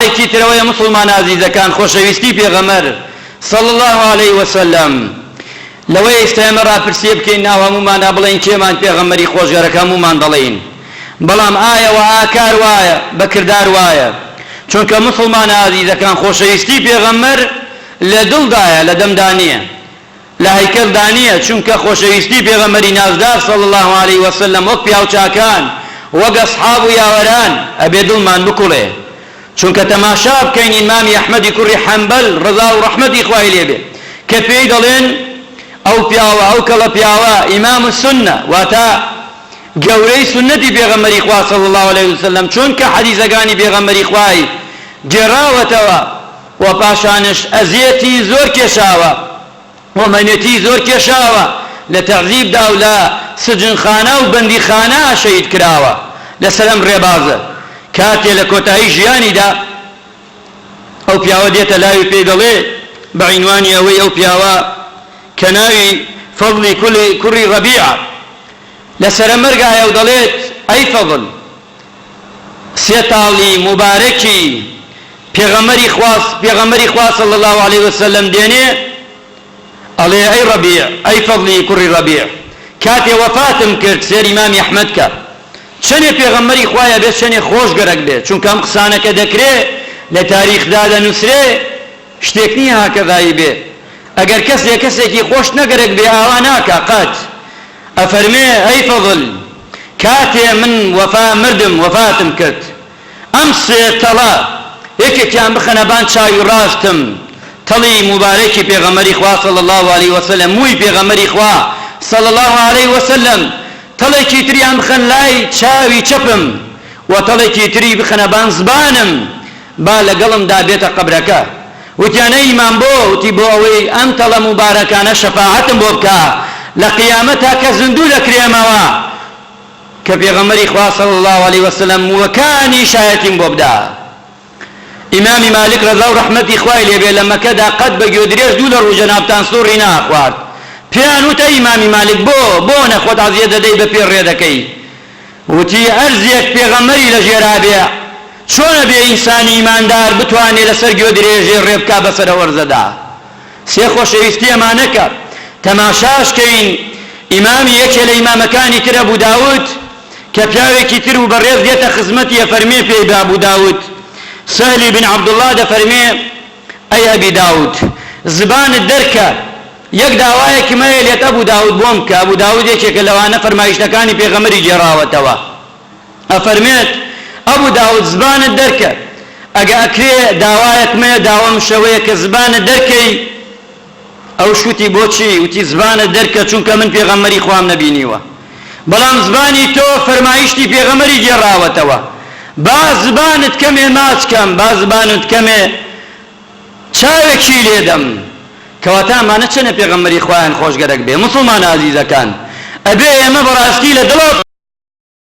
جارێکی ترەوە ئێ موسڵمانە ئازیزەکان خۆشەویستی پێغەمبەر صلی اللە علیە وسلم لەوەیە ئیستا ئێمە راپرسیە بکەین ناو هەموومانا بڵێین کێمان پێغەمبەری خۆشگەرەکە هەموومان دەڵێین بەڵام ئایا وە ئاکار وایە بە کردار وایە چونکە موسڵمانە ئازیزەکان خۆشەویستی پێغەمبەر لە دڵدایە لە دەمدا نیە لە هەیکەل دا نیە چونکە خۆشەویستی پێغەمبەری نازدار صلی اللە علیە وسلم وەک پیاوچاکان وەک اصحاب و یاوەران ئەبێ دڵمان بکوڵێ چونکە تەماشا بکەین ئیمامی احمدی کوڕی حەنبەل ڕەزا و ڕەحمەتی خوای لێ بێ کە پێی دەڵێن ئەو پیاوە ئەو کەڵە پیاوە ئیمام السنە واتە گەورەی سونەتی پێغەمبەری خوا صلی اللە علیە وسلم چونکە حەدیسەکانی پێغەمبەری خوای گێڕاوەتەوە و پاشانش ئەزیەتی زۆر کێشاوە و مەینەتی زۆر کێشاوە لە تەعزیب دا و لە سجنخانە و بەندیخانە شەهید کراوە لەسەر ئەم ڕێبازە کاتێ لە کۆتایی ژیانی دا ئەو پیاوە دێتە لای و پێی دەڵێ بە عینوانی ئەوەی ئەو پیاوە کە ناوی فەضلی کولی کوڕی ڕەبیعە لە سەرە مەرگایە و دەڵێت ئەی فەضل سێ تاڵی موبارەکی پێغەمبەری خوا پێغەمبەری خوا صلی اللە علیە وسلم دێنێ ئەڵێ ئەی ڕەبیع ئەی فەضلی کوڕی ڕەبیع کاتێ وەفاتم کرد سێری مامی ئەحمەد کە چەنێ پێغەمبەری خوایە بێ چەنێ خۆش گەرەک بێ چونکە ئەم قسانەکە دەکرێ لە تاریخدا دەنووسرێ شتێک نیە هاکەڤایی بێ ئەگەر کەسێ کەسێکی خۆش نەگەرەک بێ ئاوا ناکا قەت ئەفەرمێ ئەی فەزل کاتێ من وەفا مردم وەفاتم کرد ئەم سێ تەڵە یەکێکیان بخەنە بان چاوی ڕاستم تەڵی موبارەکی پێغەمبەری خوا صلی اللە علیە وسلم مووی پێغەمبەری خوا صلی اللە علیە وسلم تەڵێکی تریان بخەن لای چاوی چەپم وە تەڵێکی تری بخەنە بان زبانم با لەگەڵمدا بێتە قەبرەکە. وتیان ئەی مام بۆ؟ وتی بۆ ئەوەی ئەم تەڵە موبارەکانە شەفاعەتم بۆ بکا لە قیامەت تا کە زیندوو دەکرێمەوە کە پێغەمبەری خوا صلی اللە علیە وسلم مووەکانی شایەتیم بۆ بدا. ئیمامی مالک رەزا و رەحمەتی خوای لێ بێ لە مەکەدا قەت بە گوێدرێژ دوو لە روو جەنابتان سوڕی نەئەخوارد. پێیان وت ئەی ئیمامی مالک بۆ؟ بۆنە خۆت عەزیەت دەدەی بە پێ رێ دەکەی؟ وتی، هەر زێک پێغەمبەری لە ژێرا بێ، چۆنە بێ ئینسانی ئیماندار بتوانێ لە سەر گوێدرێژێ ڕێ بکا بە سەرە وەرزەدا؟ سێ خۆشەویستی ئەمانە کە تەماشاش کەین ئیمامی یەکێ لە ئیمامەکانی تر ئەبو داود کە پیاوێکی تر و بەڕێز دێتە خزمەتی ئەفەرمێ پێی بە ئەبو داود سەهلی بن عەبدوڵڵا دەفەرمێ، ئەی ئەبی داود زبانت دەرکە یەک داوایەکی مەیە لێت ئەبو داود بۆم کە ئەبو داود یەکێکە لەوانە فەرمایشتەکانی پێغەمبەری گێڕاوەتەوە ئەفەرمێت ئەبو داود زبانت دەرکە ئەگە ئەکرێ داوایەک مەیە داوام شەوەیە کە زبانت دەرکەی ئەوش وتی بۆچی وتی زبانت دەرکە چونکە من پێغەمبەری خوام نەبینیوە بەڵام زبانی تۆ فەرمایشتی پێغەمبەری گێڕاوەتەوە با زبانت کەمێ ماچ کەم با زبانت کەمێ چاوێکی لێدەم کەواتە ئەمانە چەنە پێغەمبەری خوایان خۆش گەرەک بێ موسڵمانە ئازیزەکان ئەبێ ئێمە بەڕاستی لە دڵە